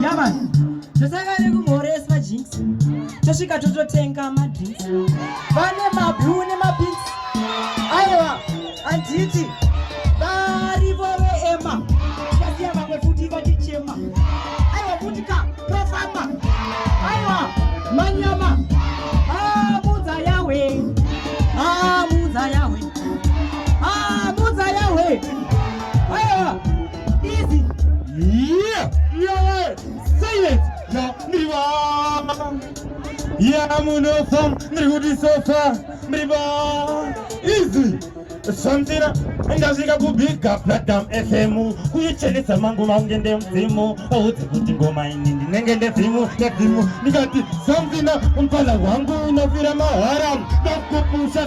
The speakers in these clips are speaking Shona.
yamani tosanga nekumhoreswa jinx tosvika tototenga madrinx vane mablue nemapix aiwa handiti varivo veema tikasiya vamwe futi vatichema aiwa futi ka profama aiwa manyama amudza ah, yawe amudza ah, yawe amudza ah, yawe aiwa Easy. Yeah. Yeah. Silence. Yeah. Mriva. Yeah, munofa. Mrihudi sofa. Mriva. Easy. Shandira ndasvika kubhiga pradam fm kuichenesa mangu vange ndemudzimu audze kuti ngoma ini ndinenge ndedzimu ndedzimu ndikati samfina mupfana wangu unofira mahara ndakupusha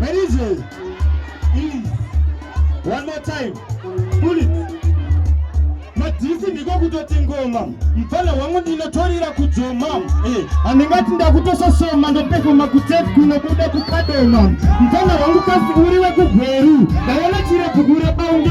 Ladies, please, one more time, pull it. Madhisi ndiko kutoti ngoma mfana wangu ndinotorira kudzoma eh, handingati ndakutososoma ndopefoma kutep kunobuda kukadoma mfana wangu kasi uri wekugweru ndaona chirebugure baunge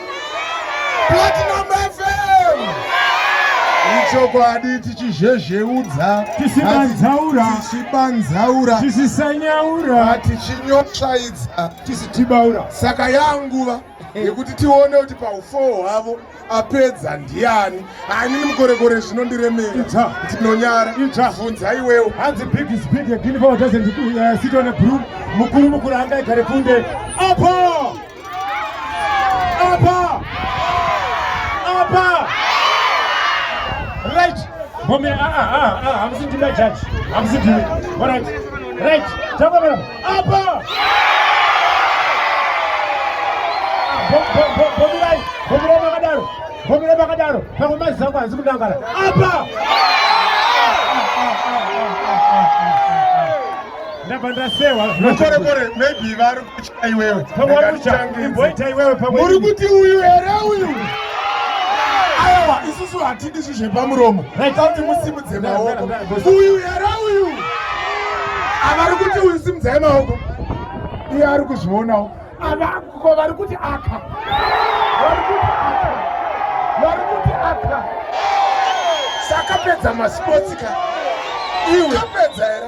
Platinum FM. Ichokwadi tichizhezheudza tisibanzaura tichibanzaura tisisanyaura tichinyosvaidza tisitibaura saka yanguva yekuti tione kuti paufoo hwavo apedza ndiani hainini mukorekore zvinondiremera ndinonyara bvunza iwewo hanzi big is big again for doesn't uh, sit on a broom mukuru mukuru angaigare kunde apo Apa! Apa! Right! Mommy, ah, ah, ah, ah, I'm sitting my judge. I'm sitting. All right. Right. Tell me, madam. Apa! Bomirai, bomirai makadaro. Bomirai makadaro. Pamwe mazi zangu hanzi kudangara. Apa! Ndabva ndasewa. Mukorekore, maybe vari iwewe pamwaruchaimboita iwewe pamwe muri kuti uyu here uyu aiwa isusu hatidi zvi zvepamuromo tauti musimudze maoko uyu here uyu avari kuti uyu simudzai maoko iye ari kuzvionawo avako vari kuti aka vari kuti aka vari kuti aka sakapedza masports ka iwe apedza here